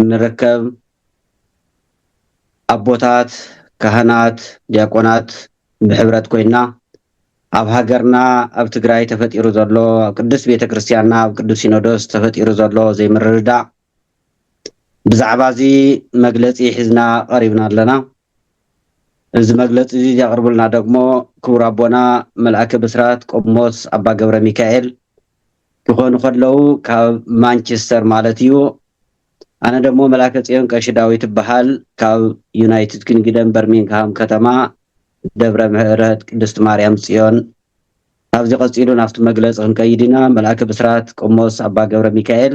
እንርከብ ኣቦታት ካህናት ዲያቆናት ብሕብረት ኮይና ኣብ ሃገርና ኣብ ትግራይ ተፈጢሩ ዘሎ ኣብ ቅድስት ቤተ ክርስቲያንና ኣብ ቅዱስ ሲኖዶስ ተፈጢሩ ዘሎ ዘይምርድዳእ ብዛዕባ እዚ መግለፂ ሒዝና ቀሪብና ኣለና። እዚ መግለፂ እዚ ዘቕርቡልና ደግሞ ክቡር ኣቦና መልኣከ ብስራት ቆሞስ ኣባ ገብረ ሚካኤል ክኾኑ ከለዉ ካብ ማንችስተር ማለት እዩ። ኣነ ደሞ መላከ ጽዮን ቀሺ ዳዊት እበሃል ካብ ዩናይትድ ኪንግደም በርሚንግሃም ከተማ ደብረ ምህረት ቅድስት ማርያም ጽዮን ካብዚ ቀጺሉ ናብቲ መግለጺ ክንከይድ ኢና መልኣከ ብስራት ቆሞስ ኣባ ገብረ ሚካኤል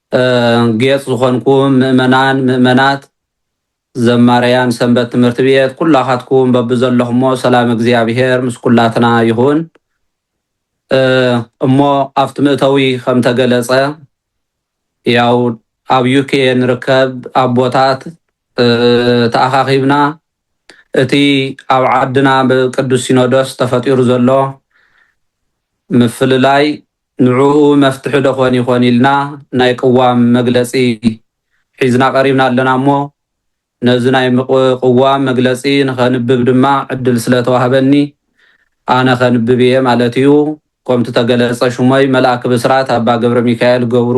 ጌጽ ዝኾንኩም ምእመናን ምእመናት ዘማርያን ሰንበት ትምህርቲ ቤት ኩላኻትኩም በብዘለኹሞ ሰላም እግዚኣብሔር ምስ ኩላትና ይኹን እሞ ኣብቲ ምእተዊ ከም ተገለጸ ያው ኣብ ዩኬ ንርከብ ኣቦታት ተኣኻኺብና እቲ ኣብ ዓድና ብቅዱስ ሲኖዶስ ተፈጢሩ ዘሎ ምፍልላይ ንዕኡ መፍትሒ ዶ ኾን ይኾን ኢልና ናይ ቅዋም መግለፂ ሒዝና ቀሪብና ኣለና እሞ ነዚ ናይ ቅዋም መግለፂ ንኸንብብ ድማ ዕድል ስለ ተዋህበኒ ኣነ ከንብብ እየ ማለት እዩ። ኮምቲ ተገለፀ ሽሞይ መልኣከ ብስራት ኣባ ገብረሚካኤል ገብሩ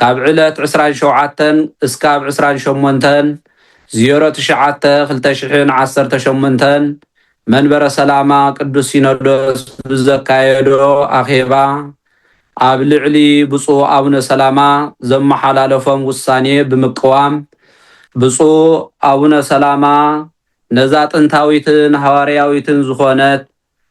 ካብ ዕለት ዕስራን ሸውዓተን እስካብ ዕስራን ሸሞንተን ዜሮ ትሽዓተ ክልተ ሽሕን ዓሰርተ ሸሞንተን መንበረ ሰላማ ቅዱስ ሲኖዶስ ብዘካየዶ ኣኼባ ኣብ ልዕሊ ብፁዕ ኣቡነ ሰላማ ዘመሓላለፎም ውሳኔ ብምቅዋም ብፁዕ ኣቡነ ሰላማ ነዛ ጥንታዊትን ሃዋርያዊትን ዝኾነት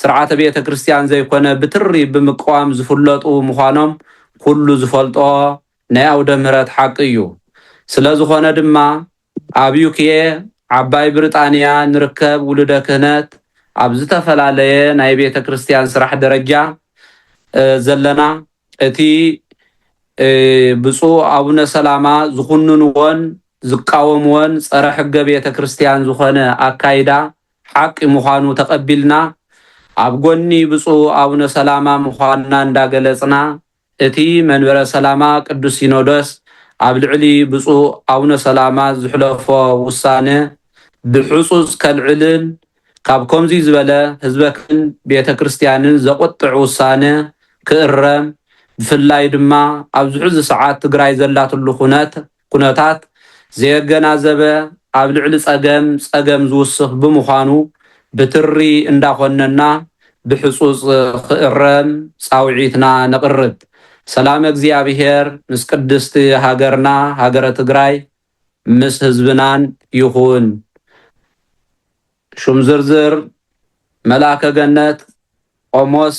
ስርዓተ ቤተ ክርስቲያን ዘይኮነ ብትሪ ብምቅዋም ዝፍለጡ ምዃኖም ኩሉ ዝፈልጦ ናይ ኣውደ ምህረት ሓቂ እዩ። ስለ ዝኾነ ድማ ኣብ ዩክየ፣ ዓባይ ብሪጣንያ፣ ንርከብ ውሉደ ክህነት ኣብ ዝተፈላለየ ናይ ቤተ ክርስቲያን ስራሕ ደረጃ ዘለና እቲ ብፁዕ ኣቡነ ሰላማ ዝኹንንዎን ዝቃወምዎን ጸረ ሕገ ቤተ ክርስቲያን ዝኾነ ኣካይዳ ሓቂ ምዃኑ ተቐቢልና ኣብ ጎኒ ብፁዕ ኣቡነ ሰላማ ምዃንና እንዳገለጽና እቲ መንበረ ሰላማ ቅዱስ ሲኖዶስ ኣብ ልዕሊ ብፁዕ ኣቡነ ሰላማ ዝሕለፎ ውሳነ ብሕጹጽ ከልዕልን ካብ ከምዙይ ዝበለ ህዝበክን ቤተ ክርስቲያንን ዘቑጥዕ ውሳነ ክእረም ብፍላይ ድማ ኣብዚ ሕዚ ሰዓት ትግራይ ዘላትሉ ኩነት ኩነታት ዘየገናዘበ ኣብ ልዕሊ ፀገም ፀገም ዝውስኽ ብምዃኑ ብትሪ እንዳኾነና ብሕፁፅ ክእረም ፃውዒትና ነቕርብ። ሰላመ እግዚኣብሔር ምስ ቅድስቲ ሃገርና ሃገረ ትግራይ ምስ ህዝብናን ይኹን። ሹም ዝርዝር መልኣከ ገነት ቆሞስ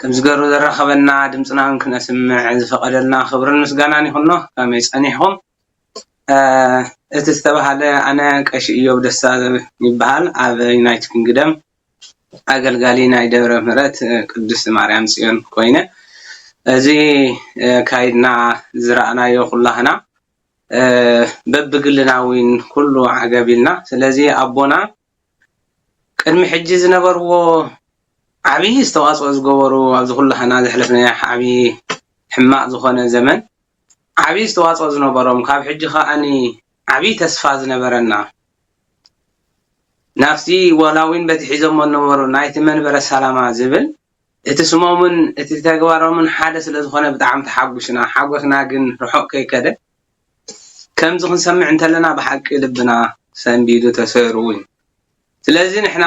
ከምዚ ገሩ ዘራከበና ድምጽናውን ክነስምዕ ዝፈቀደልና ክብርን ምስጋናን ይኩኖ ከመይ ጸኒሕኩም እቲ ዝተባሃለ ኣነ ቀሺ እዮብ ደስታ ይባሃል ኣብ ዩናይት ኪንግደም ኣገልጋሊ ናይ ደብረ ምህረት ቅድስት ማርያም ጽዮን ኮይነ እዚ ካይድና ዝራእናዮ ኩላህና በብግልና ዊን ኩሉ ዓገብ ኢልና ስለዚ ኣቦና ቅድሚ ሕጂ ዝነበርዎ ዓብዪ ዝተዋፅኦ ዝገበሩ ኣብዚ ኩሉ ሓና ዘሕለፍናዮ ዓብዪ ሕማቕ ዝኾነ ዘመን ዓብዪ ዝተዋፅኦ ዝነበሮም ካብ ሕጂ ከዓኒ ዓብዪ ተስፋ ዝነበረና ናብቲ ዋላ እውን በቲ ሒዞሞ ዝነበሩ ናይቲ መንበረ ሰላማ ዝብል እቲ ስሞምን እቲ ተግባሮምን ሓደ ስለ ዝኾነ ብጣዕሚ ተሓጒስና ሓጎስና ግን ርሑቕ ከይከደ ከምዚ ክንሰምዕ እንተለና ብሓቂ ልብና ሰንቢዱ ተሰይሩ ውን ዩ ስለዚ ንሕና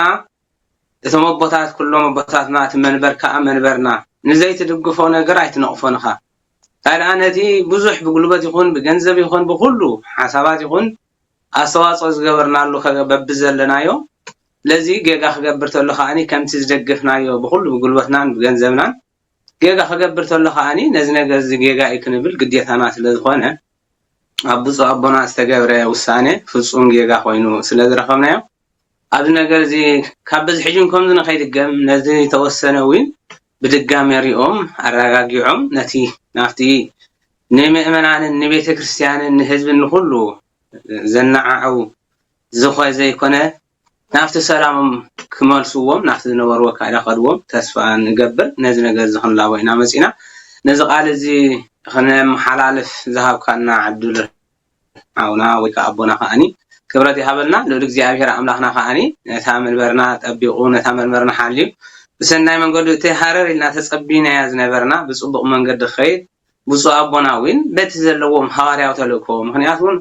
እቶም ኣቦታት ኩሎም ኣቦታትና እቲ መንበር ካኣ መንበርና ንዘይትድግፎ ነገር ኣይትነቅፎን እኻ ታይ ዳኣ ነቲ ብዙሕ ብጉልበት ይኹን ብገንዘብ ይኹን ብኹሉ ሓሳባት ይኹን ኣስተዋጽኦ ዝገበርናሉ በብዘለናዮ ስለዚ ጌጋ ክገብር ተሎ ካኣ ከምቲ ዝደገፍናዮ ብኹሉ ብጉልበትናን ብገንዘብናን ጌጋ ክገብር ተሎ ከኣ ነዚ ነገርዚ ጌጋ እዩ ክንብል ግዴታና ስለዝኾነ ኣብ ብጹእ ኣቦና ዝተገብረ ውሳነ ፍጹም ጌጋ ኮይኑ ስለዝረኸብናዮ ኣብዚ ነገርዚ ካብ በዚ ሕጂን ከምዚ ንኸይድገም ነዚ ተወሰነ ዊን ብድጋሜ ሪኦም ኣራጋጊዖም ነቲ ናብቲ ንምእመናንን ንቤተክርስትያንን ንህዝብን ንኹሉ ዘናዓዕው ዝኾ ዘይኮነ ናብቲ ሰላሞም ክመልስዎም ናብቲ ዝነበርዎ ኣካይዳ ክኸድዎም ተስፋ ንገብር ነዚ ነገር እዚ ክንላቦ ኢና መጺእና ነዚ ቃል እዚ ክነመሓላልፍ ዝሃብካና ዕድል ሓውና ወይ ከኣ ኣቦና ከኣኒ ክብረት ይሃበልና ልዑል እግዚኣብሄር ኣምላኽና ከኣኒ ነታ መንበርና ጠቢቑ ነታ መንበርና ሓልዩ ብሰናይ መንገዱ እቲ ሃረር ኢልና ተጸቢናያ ዝነበርና ብጽቡቕ መንገዲ ክኸይድ ብፁዕ ኣቦና ውን በቲ ዘለዎም ሓዋርያዊ ተልእኮ ምኽንያት ውን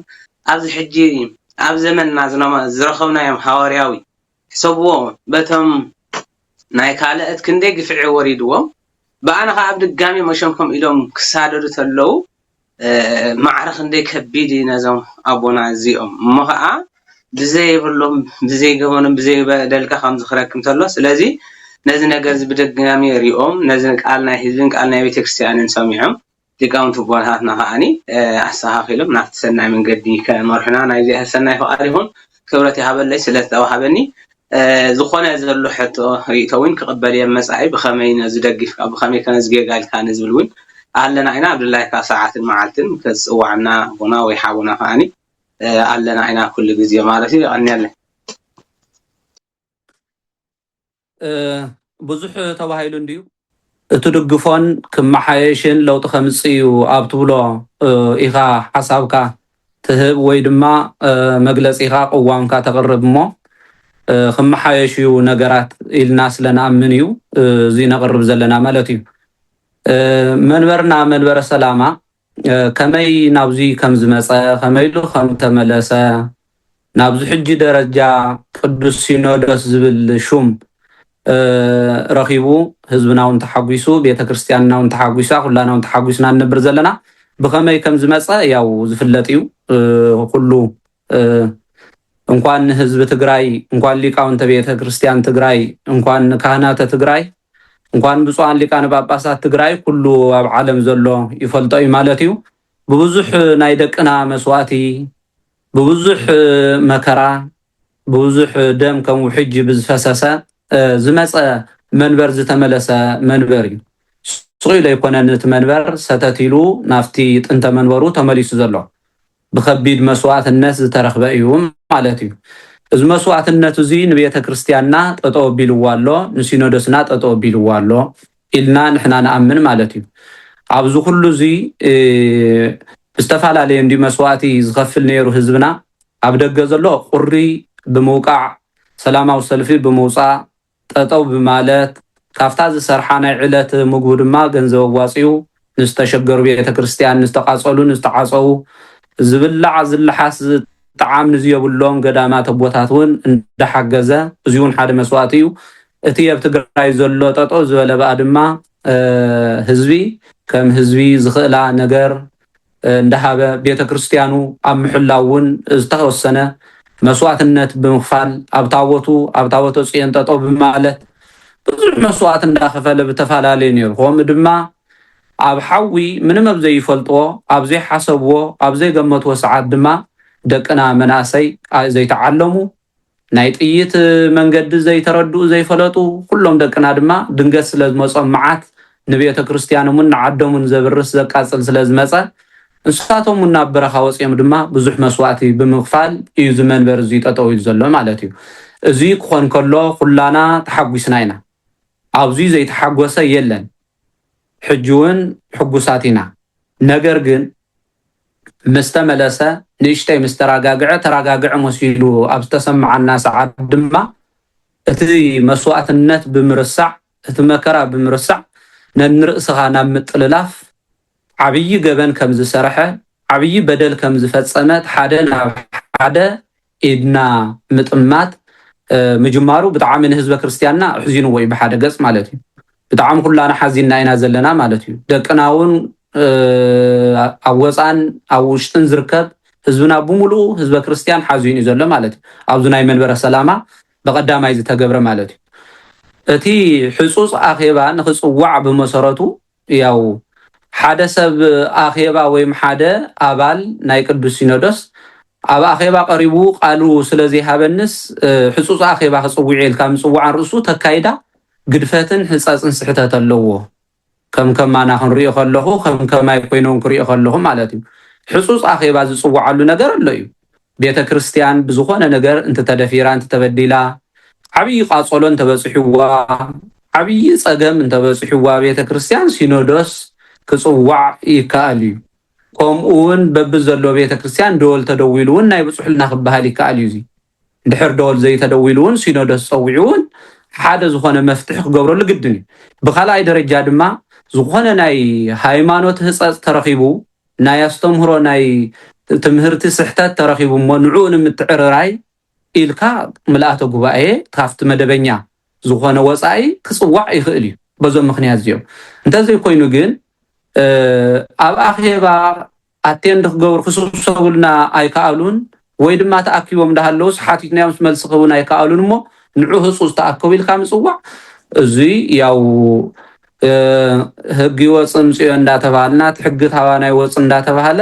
ኣብዚ ሕጂ ኣብ ዘመንና ዝረኸብናዮም ሓዋርያዊ ሕሰብዎ በቶም ናይ ካልእት ክንደይ ግፍዒ ወሪድዎም ብኣና ኸኣ ብድጋሜ መሸምሸም ኢሎም ክሳደዱ ተለዉ ማዕረ ክንደይ ከቢድ እዩ ነዞም ኣቦና እዚኦም እሞ ኸኣ ብዘይብሎም ብዘይገበኖም ብዘይበደልካ ከም ዝኽረክ እንተሎ ስለዚ ነዚ ነገር እዚ ብድጋሚ ሪኦም ነዚ ቃል ናይ ህዝብን ቃል ናይ ቤተክርስትያንን ሰሚዖም ሊቃውንቲ ኣቦታትና ከዓኒ ኣስተኻኺሎም ናብቲ ሰናይ መንገዲ ከመርሑና ናይ እግዚኣብሔር ሰናይ ፍቓድ ይኹን። ክብረት ይሃበለይ ስለ ዝተዋሃበኒ ዝኾነ ዘሎ ሕቶ ርእቶ እውን ክቕበል እየ መጻኢ ብኸመይ ነዚ ደጊፍካ ብኸመይ ከነዚ ጌጋ ኢልካ ንዝብል እውን ኣለና ኢና ኣብ ድላይካ ሰዓትን መዓልትን ክትጽዋዕና ኣቦና ወይ ሓውና ከዓኒ ኣለና ኢና ኩሉ ግዜ ማለት እዩ የቀንየለይ። ብዙሕ ተባሂሉ እንድዩ እትድግፎን ክመሓየሽን ለውጢ ከምፅእ እዩ ኣብ ትብሎ ኢኻ ሓሳብካ ትህብ ወይ ድማ መግለፂኻ ቅዋምካ ተቕርብ እሞ ክመሓየሽ እዩ ነገራት ኢልና ስለንኣምን እዩ እዚ ነቕርብ ዘለና ማለት እዩ መንበርና መንበረ ሰላማ ከመይ ናብዙይ ከም ዝመጸ ከመይሉ ከም ተመለሰ ናብዙ ሕጂ ደረጃ ቅዱስ ሲኖዶስ ዝብል ሹም ረኺቡ ህዝብና ውን ተሓጒሱ ቤተ ክርስቲያንና ውን ተሓጒሳ ኩላና ውን ተሓጒስና ንነብር ዘለና ብኸመይ ከም ዝመጸ ያው ዝፍለጥ እዩ ኩሉ እንኳን ህዝቢ ትግራይ እንኳን ሊቃውንተ ቤተ ክርስቲያን ትግራይ እንኳን ካህናተ ትግራይ እንኳን ብፁዓን ሊቃነ ጳጳሳት ትግራይ ኩሉ ኣብ ዓለም ዘሎ ይፈልጦ እዩ ማለት እዩ ብብዙሕ ናይ ደቅና መስዋእቲ ብብዙሕ መከራ ብብዙሕ ደም ከም ውሕጅ ብዝፈሰሰ ዝመፀ መንበር ዝተመለሰ መንበር እዩ ስቕ ኢሉ ኣይኮነን እቲ መንበር ሰተት ኢሉ ናብቲ ጥንተ መንበሩ ተመሊሱ ዘሎ ብኸቢድ መስዋእትነት ዝተረኽበ እዩ ማለት እዩ። እዚ መስዋእትነት እዙይ ንቤተ ክርስቲያንና ጠጠው ኣቢልዋ ኣሎ፣ ንሲኖዶስና ጠጠው ኣቢልዋ ኣሎ ኢልና ንሕና ንኣምን ማለት እዩ። ኣብዚ ኩሉ እዙይ ብዝተፈላለየ እንድዩ መስዋእቲ ዝኸፍል ነይሩ ህዝብና። ኣብ ደገ ዘሎ ቁሪ ብምውቃዕ፣ ሰላማዊ ሰልፊ ብምውፃእ፣ ጠጠው ብማለት ካብታ ዝሰርሓ ናይ ዕለት ምግቡ ድማ ገንዘብ ኣዋፂኡ ንዝተሸገሩ ቤተ ክርስትያን፣ ንዝተቓፀሉ፣ ንዝተዓፀዉ፣ ዝብላዕ ዝለሓስ ዝጠዓም ንዝየብሎም ገዳማት ኣቦታት እውን እንዳሓገዘ እዙይ እውን ሓደ መስዋእቲ እዩ። እቲ ኣብ ትግራይ ዘሎ ጠጠው ዝበለ ብኣ ድማ ህዝቢ ከም ህዝቢ ዝኽእላ ነገር እንዳሃበ ቤተ ክርስቲያኑ ኣብ ምሕላው እውን ዝተወሰነ መስዋእትነት ብምኽፋል ኣብ ታቦቱ ኣብ ታቦተ ፅዮን ጠጠው ብማለት ብዙሕ መስዋእት እንዳኸፈለ ብተፈላለዩ ነይሩ ከምኡ ድማ ኣብ ሓዊ ምንም ኣብ ዘይፈልጥዎ ኣብ ዘይሓሰብዎ ኣብ ዘይገመትዎ ሰዓት ድማ ደቅና መናእሰይ ዘይተዓለሙ ናይ ጥይት መንገዲ ዘይተረድኡ ዘይፈለጡ ኩሎም ደቅና ድማ ድንገት ስለ ዝመጾም መዓት ንቤተክርስትያኖምን ንዓዶምን ዘብርስ ዘቃጽል ስለ ዝመጸ ንሳቶም ውን ናብ በረኻ ወጽዮም ድማ ብዙሕ መስዋእቲ ብምኽፋል እዩ እዚ መንበር እዚ ጠጠው ኢሉ ዘሎ ማለት እዩ እዚ ክኾን ከሎ ኩላና ተሓጒስና ኢና ኣብዚ ዘይተሓጎሰ የለን ሕጂ ውን ሕጉሳት ኢና ነገር ግን ምስ ተመለሰ ንእሽተይ ምስ ተራጋግዐ ተራጋግዐ መሲሉ ኣብ ዝተሰመዓና ሰዓት ድማ እቲ መስዋእትነት ብምርሳዕ እቲ መከራ ብምርሳዕ ነንርእስኻ ናብ ምጥልላፍ ዓብዪ ገበን ከምዝሰርሐ ዓብዪ በደል ከምዝፈፀመ እቲ ሓደ ናብ ሓደ ኢድና ምጥማት ምጅማሩ ብጣዕሚ ንህዝበ ክርስትያንና ኣሕዚንዎ እዩ ብሓደ ገፅ ማለት እዩ ብጣዕሚ ኩላና ሓዚንና ኢና ዘለና ማለት እዩ ደቅና እውን ኣብ ወፃን ኣብ ውሽጥን ዝርከብ ህዝብና ብምሉኡ ህዝበ ክርስትያን ሓዚኑ እዩ ዘሎ ማለት እዩ ኣብዚ ናይ መንበረ ሰላማ ብቀዳማይ ዝተገብረ ማለት እዩ እቲ ሕፁፅ ኣኼባ ንክፅዋዕ ብመሰረቱ ያው ሓደ ሰብ ኣኼባ ወይም ሓደ ኣባል ናይ ቅዱስ ሲኖዶስ ኣብ ኣኼባ ቀሪቡ ቃሉ ስለዘይሃበንስ ሕጹጽ ኣኼባ ክጽውዕ ኢልካ ምጽዋዕ ንርእሱ ተካይዳ ግድፈትን ሕጸጽን ስሕተት ኣለዎ ከም ከማና ክንሪኦ ከለኹ ከም ከማይ ኮይኖም ክሪኦ ከለኹ ማለት እዩ ሕጹጽ ኣኼባ ዝጽውዓሉ ነገር ኣሎ እዩ ቤተ ክርስትያን ብዝኾነ ነገር እንትተደፊራ እንትተበዲላ ዓብዪ ቃፀሎ እንተበፅሕዋ ዓብዪ ፀገም እንተበፅሕዋ ቤተ ክርስትያን ሲኖዶስ ክፅዋዕ ይከኣል እዩ ከምኡ እውን በብዘሎ ቤተ ክርስትያን ደወል ተደዊሉ እውን ናይ ብፁሕልና ክበሃል ይከኣል እዩ እዙይ ድሕር ደወል ዘይተደዊሉ እውን ሲኖዶስ ፀዊዑ እውን ሓደ ዝኾነ መፍትሒ ክገብረሉ ግድን እዩ። ብካልኣይ ደረጃ ድማ ዝኾነ ናይ ሃይማኖት ህፀፅ ተረኺቡ ናይ ኣስተምህሮ ናይ ትምህርቲ ስሕተት ተረኺቡ'ሞ ንዕኡ ንምትዕርራይ ኢልካ ምልኣተ ጉባኤ ካብቲ መደበኛ ዝኾነ ወጻኢ ክጽዋዕ ይኽእል እዩ በዞም ምኽንያት እዚኦም እንተዘይኮይኑ ግን ኣብ ኣኼባ ኣቴንድ ክገብሩ ክስብሰቡልና ኣይከኣሉን ወይ ድማ ተኣኪቦም እንዳሃለዉስ ሓቲትናዮምስ መልሲ ክህቡና ኣይከኣሉን እሞ ንዑ ህጹጽ ተኣከቡ ኢልካ ምጽዋዕ እዙይ ያው ህግ ይወፅ ምፅዮ እንዳተባሃልና እቲ ሕጊ ታባና ይወፅ እንዳተባሃለ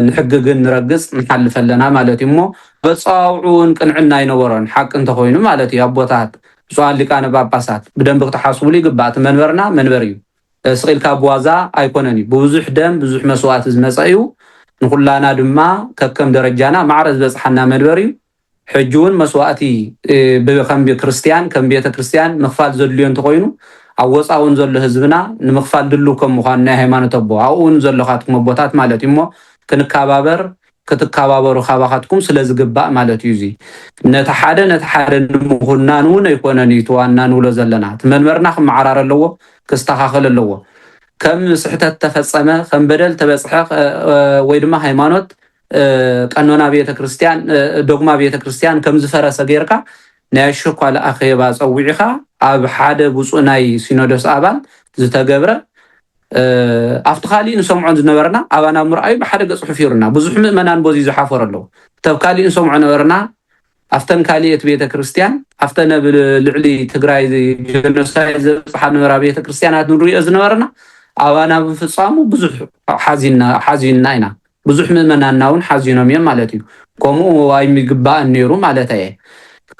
ንሕጊ ግን ንረግፅ ንሓልፈ ኣለና ማለት እዩ እሞ በፀዋውዑ እውን ቅንዕና ኣይነበሮን ሓቂ እንተኮይኑ ማለት እዩ ኣቦታት ብፁዓን ሊቃነ ጳጳሳት ብደንብ ክትሓስቡሉ ይግባእ እቲ መንበርና መንበር እዩ ስቅ ኢልካ ብዋዛ ኣይኮነን እዩ ብብዙሕ ደም ብዙሕ መስዋእቲ ዝመጸ እዩ ንኩላና ድማ ከከም ደረጃና ማዕረ ዝበጽሓና መድበር እዩ ሕጂ ውን መስዋእቲ ብከም ክርስትያን ከም ቤተ ክርስትያን ምክፋል ዘድልዮ እንተኮይኑ ኣብ ወጻ ውን ዘሎ ህዝብና ንምክፋል ድልው ከም ምኳኑ ናይ ሃይማኖት ኣቦ ኣብኡ ውን ዘሎካትኩም ኣቦታት ማለት እዩ እሞ ክንካባበር ክትካባበሩ ካባካትኩም ስለ ዝግባእ ማለት እዩ እዚ ነቲ ሓደ ነቲ ሓደ ንምኩናን ውን ኣይኮነን እዩ እቲ ዋና ንብሎ ዘለና እቲ መንበርና ክመዓራረ ኣለዎ ክስተካከል ኣለዎ ከም ስሕተት ተፈጸመ ከም በደል ተበጽሐ ወይ ድማ ሃይማኖት ቀኖና ቤተ ክርስትያን ዶግማ ቤተ ክርስትያን ከም ዝፈረሰ ጌርካ ናይ ኣሸኳል ኣኼባ ጸዊዕኻ ኣብ ሓደ ብፁዕ ናይ ሲኖዶስ ኣባል ዝተገብረ ኣብቲ ካሊእ ንሰምዖን ዝነበርና ኣባና ምርኣዩ ብሓደ ገፅ ሑፊሩና ብዙሕ ምእመናን ቦዙይ ዝሓፈሩ ኣለዉ ተብ ካሊእ ንሰምዖ ነበርና ኣፍተን ካሊኤት ቤተ ክርስቲያን ኣፍተን ኣብ ልዕሊ ትግራይ ጀኖሳይድ ዘብፅሓ ነበራ ቤተ ክርስቲያናት ንሪኦ ዝነበርና ኣባና ብምፍፃሙ ብዙሕ ሓዚና ኢና ብዙሕ ምእመናንና ውን ሓዚኖም እዮም ማለት እዩ። ከምኡ ኣይምግባእን ኔሩ ማለት ኣየ።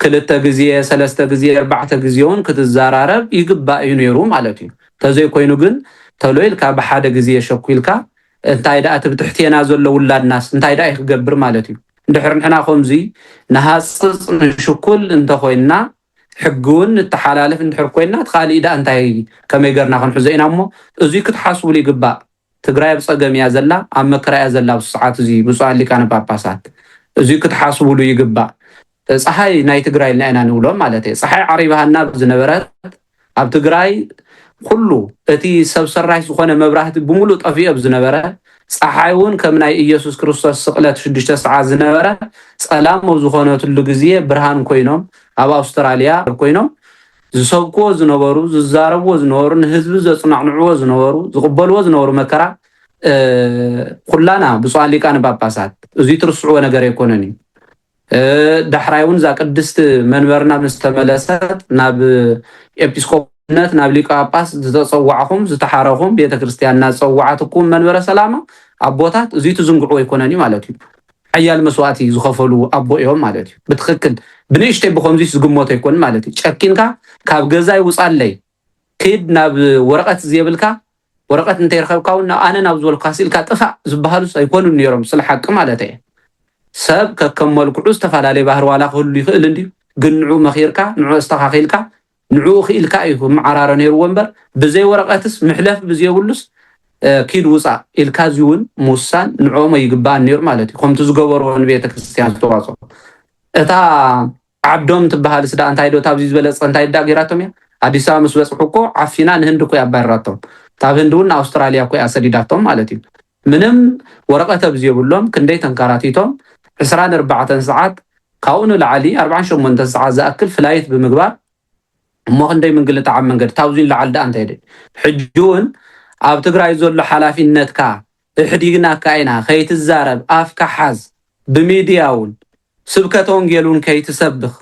ክልተ ግዜ ሰለስተ ግዜ ኣርባዕተ ግዜ ውን ክትዛራረብ ይግባእ እዩ ኔሩ ማለት እዩ። ተዘይ ኮይኑ ግን ተሎ ኢልካ ብሓደ ግዜ ሸኩልካ እንታይ ድኣ እቲ ብትሕቴና ዘሎ ውላድናስ እንታይ ድኣ እዩ ክገብር ማለት እዩ። እንድሕር ንሕና ከምዙይ ንሃጽጽ ንሽኩል እንተ ኮይንና ሕጊ ውን ንተሓላልፍ እንድሕር ኮይንና እቲ ካሊእ ድኣ እንታይ ከመይ ገርና ክንሕዞ ኢና እሞ እዙይ ክትሓስቡሉ ይግባእ። ትግራይ ኣብ ፀገም እያ ዘላ ኣብ መከራ እያ ዘላ ኣብዚ ሰዓት እዙይ ብፁዓን ሊቃነ ጳጳሳት እዙይ ክትሓስቡሉ ይግባእ ፀሓይ ናይ ትግራይ ኢልና ኢና ንብሎም ማለት እየ ፀሓይ ዓሪባሃና ዝነበረት ኣብ ትግራይ ኩሉ እቲ ሰብ ሰራሽ ዝኾነ መብራህቲ ብምሉእ ጠፊኦ ዝነበረ ፀሓይ እውን ከም ናይ ኢየሱስ ክርስቶስ ስቕለት ሽዱሽተ ሰዓት ዝነበረ ፀላም ኣብ ዝኾነትሉ ግዜ ብርሃን ኮይኖም ኣብ ኣውስትራሊያ ኮይኖም ዝሰብክዎ ዝነበሩ፣ ዝዛረብዎ ዝነበሩ፣ ንህዝቢ ዘጽናዕንዕዎ ዝነበሩ፣ ዝቕበልዎ ዝነበሩ መከራ ኩላና ብፁዓን ሊቃነ ጳጳሳት እዙይ ትርስዕዎ ነገር ኣይኮነን እዩ። ዳሕራይ እውን እዛ ቅድስቲ መንበርና ምስ ተመለሰት ናብ ኤጲስቆጶስነት ናብ ሊቀ ጳጳስ ዝተጸዋዕኹም ዝተሓረኹም ቤተ ክርስቲያንና ዝጸዋዓትኩም መንበረ ሰላማ ኣቦታት እዙይ ትዝንግዕዎ ኣይኮነን እዩ ማለት እዩ። ሓያል መስዋእቲ ዝኸፈሉ ኣቦ እዮም ማለት እዩ ብትኽክል ብንእሽተይ ብኸምዚስ ዝግመቶ ኣይኮንን ማለት እዩ ጨኪንካ ካብ ገዛይ ውፃለይ ክድ ናብ ወረቀት ዝየብልካ ወረቀት እንተይረኸብካ እውን ኣነ ናብ ዝበልካ ስኢልካ ጥፋእ ዝበሃሉስ ኣይኮኑን ነይሮም ስለ ሓቂ ማለት እየ ሰብ ከከም መልክዑ ዝተፈላለየ ባህሪ ዋላ ክህሉ ይኽእል እንድዩ ግን ንዑ መኺርካ ንዑ ኣስተኻኺልካ ንዕኡ ክኢልካ እዩ ክመዓራረ ነይርዎ እምበር ብዘይ ወረቀትስ ምሕለፊ ብዘየብሉስ ኪድ ውፃእ ኢልካ እዚ እውን ምውሳን ንዕኦም ኣይግበኣን ነይሩ ማለት እዩ ከምቲ ዝገበርዎ ንቤተክርስትያን ዝተዋፅኦ እታ ዓብዶም ትበሃልስ ዳኣ እንታይ ዶ ታብዚ ዝበለፀ እንታይ ዳ ገይራቶም እያ ኣዲስ ኣበባ ምስ በፅሑ እኮ ዓፊና ንህንዲ እኮ ኣባሪራቶም ካብ ህንዲ እውን ንኣውስትራልያ እኮ እያ ሰዲዳቶም ማለት እዩ ምንም ወረቀት ኣብዝየብሎም ክንደይ ተንካራቲቶም ዕስራን ኣርባዕተን ሰዓት ካብኡ ንላዕሊ ኣርባዓን ሸሞንተን ሰዓት ዝኣክል ፍላይት ብምግባር እሞ ክንደይ ምንግልታዕ ኣብ መንገዲ ታብዙይ ንላዕሊ ዳኣ እንታይ ድዩ ሕጂ ውን ኣብ ትግራይ ዘሎ ሓላፊነትካ እሕዲግናካ ኢና ከይትዛረብ ኣፍካ ሓዝ ብሚድያ ውን ስብከተ ወንጌል ውን ከይትሰብኽ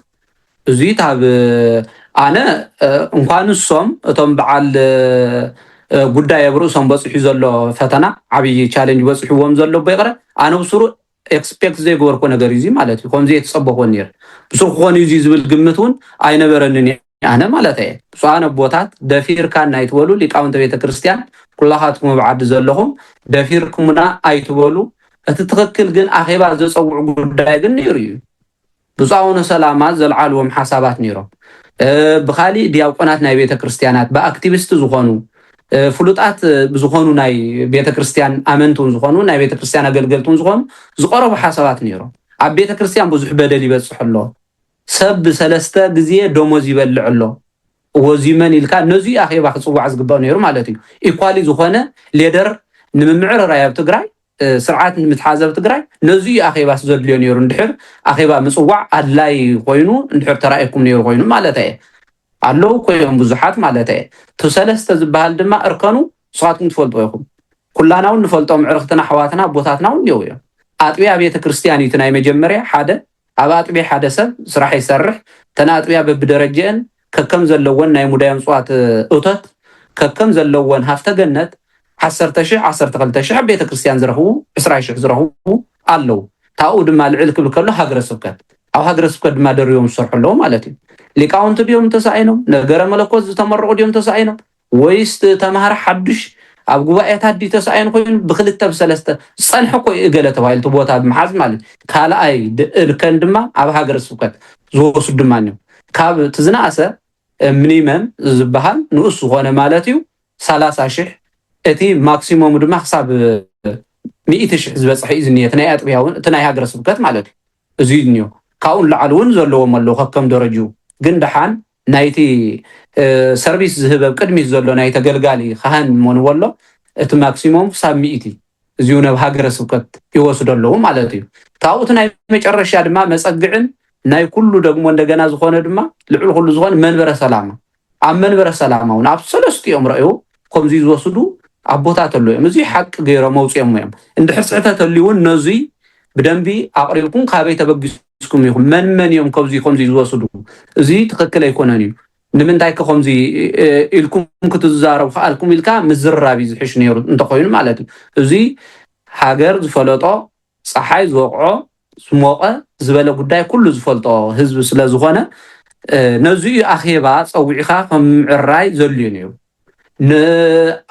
እዙይ ታብ ኣነ እንኳን እሶም እቶም ብዓል ጉዳይ ኣብ ርእሶም በፂሑ ዘሎ ፈተና ዓብይ ቻሌንጅ በፂሕዎም ዘሎ እቦ ይቕረ ኣነ ብሱሩ ኤክስፔክት ዘይገበርክዎ ነገር እዩ እዙይ ማለት እዩ ከምዙይ ኣይተፀበኽዎን ነይረ ብሱሩ ክኾን እዩ እዙይ ዝብል ግምት ውን ኣይነበረንን እዩ ኣነ ማለት እየ ብፁዓን ኣቦታት ደፊርካና ኣይትበሉ ሊቃውንተ ቤተ ክርስቲያን ኩላኻትኩም ኣብ ዓዲ ዘለኹም ደፊርኩምና ኣይትበሉ እቲ ትኽክል ግን ኣኼባ ዘፀውዑ ጉዳይ ግን ነይሩ እዩ ብፁዕ ኣቡነ ሰላማ ዘልዓልዎም ሓሳባት ነይሮም ብካሊእ ዲያቆናት ናይ ቤተ ክርስቲያናት ብኣክቲቪስት ዝኾኑ ፍሉጣት ዝኾኑ ናይ ቤተ ክርስቲያን ኣመንቲ እውን ዝኾኑ ናይ ቤተ ክርስቲያን ኣገልገልቲ እውን ዝኾኑ ዝቀረቡ ሓሳባት ነይሮም ኣብ ቤተ ክርስቲያን ብዙሕ በደል ይበፅሕ ኣሎ ሰብ ብሰለስተ ግዝየ ደሞዝ ይበልዕ ኣሎ እዎ እዙይ መን ኢልካ ነዙይ ኣኼባ ክፅዋዕ ዝግበኦ ነይሩ ማለት እዩ ኢኳሊ ዝኾነ ሌደር ንምምዕርራይ ኣብ ትግራይ ስርዓት ንምትሓዝ ኣብ ትግራይ ነዙይ ኣኼባስ ዘድልዮ ነይሩ እንድሕር ኣኼባ ምፅዋዕ ኣድላይ ኮይኑ እንድሕር ተራእየኩም ነይሩ ኮይኑ ማለት እየ ኣለዉ እኮ እዮም ብዙሓት ማለት እየ እቲ ሰለስተ ዝበሃል ድማ እርከኑ ንስኻትኩም ትፈልጥዎ ኢኹም ኩላና እውን ንፈልጦም ዕርኽትና ኣሕዋትና ኣቦታትና እውን እኒአው እዮም ኣጥቢያ ቤተ ክርስቲያን እዩ እቲ ናይ መጀመርያ ሓደ ኣብ ኣጥብያ ሓደ ሰብ ስራሕ ይሰርሕ፣ እተን ኣጥብያ በብደረጅኤን ከከም ዘለወን ናይ ሙዳዮም ጽዋት እቶት፣ ከከም ዘለወን ሃፍተ ገነት፣ ዓሰርተ ሽሕ፣ ዓሰርተ ክልተ ሽሕ፣ ኣብ ቤተክርስትያን ዝረኽቡ ዕስራ ሽሕ ዝረኽቡ ኣለዉ። ካብኡ ድማ ልዕል ክብል ከሎ ሃገረ ስብከት፣ ኣብ ሃገረ ስብከት ድማ ደሪቦም ዝሰርሑ ኣለዉ ማለት እዩ። ሊቃውንቲ ድዮም ተሳኢኖም? ነገረ መለኮት ዝተመረቑ ድዮም ተሳኢኖም? ወይስ እቲ ተማሃሪ ሓዱሽ ኣብ ጉባኤታት ድዩ ተሳኢኑ ኮይኑ ብክልተ ብሰለስተ ዝጸንሐ እኮ እዩ እገለ ተባሂሉ እቲ ቦታ ብምሓዝ ማለት እዩ ካልኣይ እርከን ድማ ኣብ ሃገረ ስብከት ዝወስዱ ድማ እዮም ካብ እቲ ዝነኣሰ ምኒመም ዝበሃል ንኡስ ዝኾነ ማለት እዩ ሰላሳ ሽሕ እቲ ማክሲሞሙ ድማ ክሳብ ሚእቲ ሽሕ ዝበጽሐ እዩ ዝኒሀ እቲ ናይ ኣጥቢያ እውን እቲ ናይ ሃገረ ስብከት ማለት እዩ እዚ እዩ ዝኒሆ ካብኡ ንላዕሊ እውን ዘለዎም ኣለዉ ከከም ደረጅኡ ግን ደሓን ናይቲ ሰርቪስ ዝህብ ኣብ ቅድሚት ዘሎ ናይ ተገልጋሊ ኻህን ሞንዎሎ እቲ ማክሲሞም ክሳብ ሚእቲ እዚው ነብ ሃገረ ስብከት ይወስዶ ኣለው ማለት እዩ ካብኡ እቲ ናይ መጨረሻ ድማ መጸግዕን ናይ ኩሉ ደግሞ እንደገና ዝኾነ ድማ ልዕሊ ኩሉ ዝኾነ መንበረ ሰላማ ኣብ መንበረ ሰላማ ውን ኣብ ሰለስቲኦም ረእው ከምዙይ ዝወስዱ ኣቦታት ኣለዉ እዮም። እዙይ ሓቂ ገይሮም ኣውፅኦሞ እዮም። እንድሕር ስሕተት ተልዩ እውን ነዙይ ብደንቢ ኣቕሪብኩም ካበይ ተበጊስኩም ኢኹም መን መን እዮም ከብዙይ ከምዙይ ዝወስዱ እዙይ ትክክል ኣይኮነን እዩ ንምንታይ ከ ከምዚ ኢልኩም ክትዛረቡ ከኣልኩም ኢልካ ምዝርራብ እዩ ዝሕሽ ነይሩ እንተኮይኑ ማለት እዩ እዙይ ሃገር ዝፈለጦ ጸሓይ ዝወቕዖ ዝሞቐ ዝበለ ጉዳይ ኩሉ ዝፈልጦ ህዝቢ ስለ ዝኾነ ነዚ እዩ ኣኼባ ጸዊዕካ ከም ምዕራይ ዘድልዩ ነይሩ።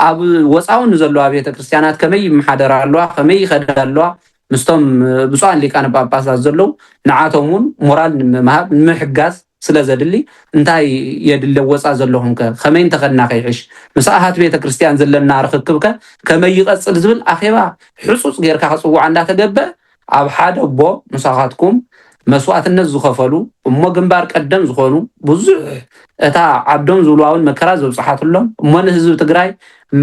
ኣብ ወጻዊ ንዘለዋ ቤተ ክርስቲያናት ከመይ ይመሓደራ ኣለዋ ከመይ ይኸዳ ኣለዋ ምስቶም ብፁዓን ሊቃነ ጳጳሳት ዘለዉ ንዓቶም እውን ሞራል ንምሃብ ንምሕጋዝ ስለ ዘድሊ እንታይ የድሊ ወጻ ዘለኹም ከ ከመይ እንተኸድና ከይሕሽ ምስ ኣሃት ቤተ ክርስትያን ዘለና ርኽክብ ከ ከመይ ይቐጽል ዝብል ኣኼባ ሕጹጽ ጌርካ ክጽዋዕ እንዳ ተገበ ኣብ ሓደ ኣቦ ምሳኻትኩም መስዋእትነት ዝኸፈሉ እሞ ግንባር ቀደም ዝኾኑ ብዙሕ እታ ዓዶም ዝብልዋውን መከራ ዘብጽሓትሎም እሞ ንህዝቢ ትግራይ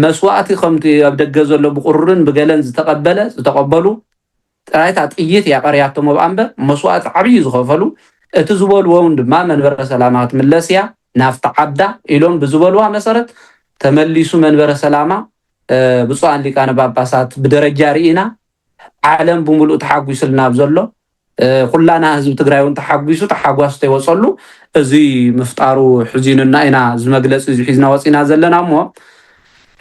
መስዋእቲ ከምቲ ኣብ ደገ ዘሎ ብቑሩርን ብገለን ዝተቐበለ ዝተቐበሉ ጥራይ እታ ጥይት እያ ቀርያቶም እብኣ እምበር መስዋእቲ ዓብዪ ዝኸፈሉ እቲ ዝበልዎ እውን ድማ መንበረ ሰላማ ክትምለስ እያ ናብቲ ዓዳ ኢሎም ብዝበልዋ መሰረት ተመሊሱ መንበረ ሰላማ ብፁዓን ሊቃነ ጳጳሳት ብደረጃ ርኢና ዓለም ብምሉእ ተሓጒስልና ኣብ ዘሎ ኩላና ህዝቢ ትግራይ እውን ተሓጒሱ ተሓጓስ ተይወፀሉ እዚ ምፍጣሩ ሕዚኑና ኢና እዚ መግለፂ እዚ ሒዝና ወፂና ዘለና እሞ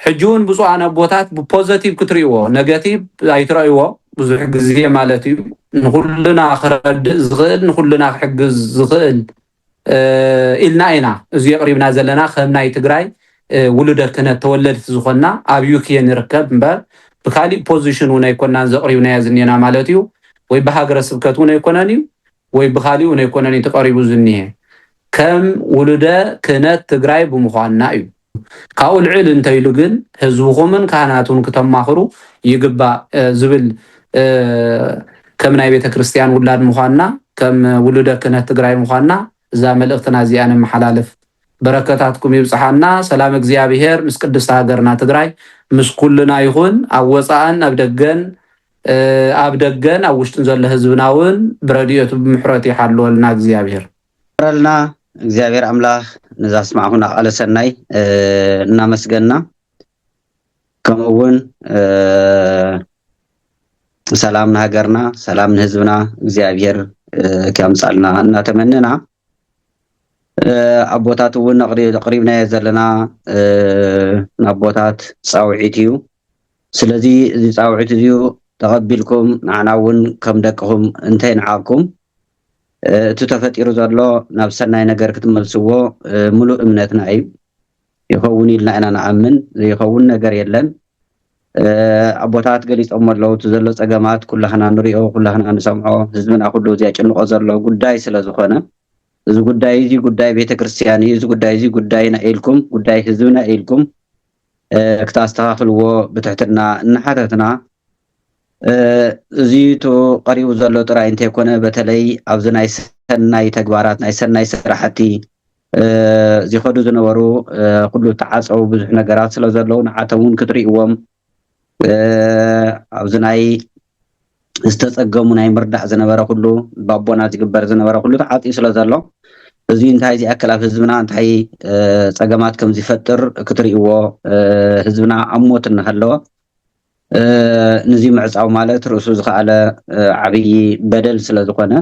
ሕጂ ውን ብጹኣን ኣቦታት ብፖዘቲቭ ክትሪእዎ ነገቲቭ ኣይትረእይዎ ብዙሕ ግዜ ማለት እዩ ንኩልና ክረድእ ዝኽእል ንኩልና ክሕግዝ ዝኽእል ኢልና ኢና እዚ የቕሪብና ዘለና ከም ናይ ትግራይ ውሉደ ክህነት ተወለድቲ ዝኾንና ኣብ ዩኬ ንርከብ እምበር ብካሊእ ፖዚሽን እውን ኣይኮናን ዘቕሪብናዮ ዝኔና ማለት እዩ ወይ ብሃገረ ስብከት እውን ኣይኮነን እዩ ወይ ብኻሊኡ ነይኮነን'ዩ ተቐሪቡ ዝኒሀ፣ ከም ውሉደ ክህነት ትግራይ ብምዃንና እዩ። ካብኡ ልዕል እንተይሉ ግን ህዝብኹምን ካህናቱን ክተማኽሩ ይግባእ ዝብል ከም ናይ ቤተ ክርስቲያን ውላድ ምዃንና፣ ከም ውሉደ ክህነት ትግራይ ምዃንና እዛ መልእኽትና እዚኣ ነመሓላልፍ። በረከታትኩም ይብጽሓና፣ ሰላም እግዚኣብሔር ምስ ቅድስቲ ሃገርና ትግራይ ምስ ኩልና ይኹን፣ ኣብ ወጻእን ኣብ ደገን ኣብ ደገን ኣብ ውሽጥን ዘሎ ህዝብና ውን ብረዲኤቱ ብምሕረቱ ይሓልወልና እግዚኣብሔር። ይማረልና እግዚኣብሔር ኣምላክ ነዛ ስማዕኹና ቃለ ሰናይ እናመስገና ከምኡ ውን ሰላም ንሃገርና ሰላም ንህዝብና እግዚኣብሔር ከምጻልና እናተመነና ኣቦታት እውን ኣቕሪብናዮ ዘለና ንኣቦታት ፃውዒት እዩ ስለዚ እዚ ጻውዒት እዚዩ ተቐቢልኩም ንዓና እውን ከም ደቅኹም እንተይንዓቕኩም እቲ ተፈጢሩ ዘሎ ናብ ሰናይ ነገር ክትመልስዎ ምሉእ እምነትና እዩ። ይኸውን ኢልና ኢና ንኣምን፣ ዘይኸውን ነገር የለን። ኣቦታት ገሊጾሞ ኣለዉ፣ እቲ ዘሎ ጸገማት ኩላህና ንሪኦ፣ ኩላህና ንሰምዖ፣ ህዝብና ኩሉ ዜጭንቖ ዘሎ ጉዳይ ስለ ዝኾነ እዚ ጉዳይ እዚ ጉዳይ ቤተ ክርስቲያን እዩ፣ እዚ ጉዳይ እዚ ጉዳይና ኢልኩም፣ ጉዳይ ህዝብና ኢልኩም ክትኣስተኻኽልዎ ብትሕትና እናሓተትና፣ እዚ እቲ ቀሪቡ ዘሎ ጥራይ እንተይኮነ በተለይ ኣብዚ ናይ ሰናይ ተግባራት ናይ ሰናይ ስራሕቲ ዚኸዱ ዝነበሩ ኩሉ እተዓጸዉ ብዙሕ ነገራት ስለዘለዉ ንዓቶም ውን ክትሪእዎም ኣብዚ ናይ ዝተፀገሙ ናይ ምርዳእ ዝነበረ ኩሉ ባቦና ዝግበር ዝነበረ ኩሉ ተዓፅዩ ስለ ዘሎ እዚ እንታይ ዝኣክል ኣብ ህዝብና እንታይ ፀገማት ከም ዝፈጥር ክትርእይዎ ህዝብና ኣብ ሞት እናሃለወ ንዚ ምዕፃው ማለት ርእሱ ዝኸኣለ ዓብዪ በደል ስለ ዝኾነ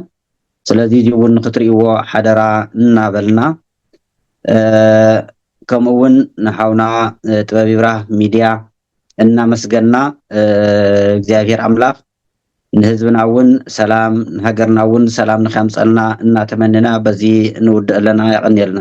ስለዚ እዚ እውን ንክትርእይዎ ሓደራ እናበልና ከምኡ እውን ንሓውና ጥበብ ይብራህ ሚድያ እናመስገና እግዚኣብሔር ኣምላክ ንህዝብና እውን ሰላም ንሃገርና እውን ሰላም ንከምፀልና እናተመነና በዚ ንውድእ ኣለና የቀንየልና።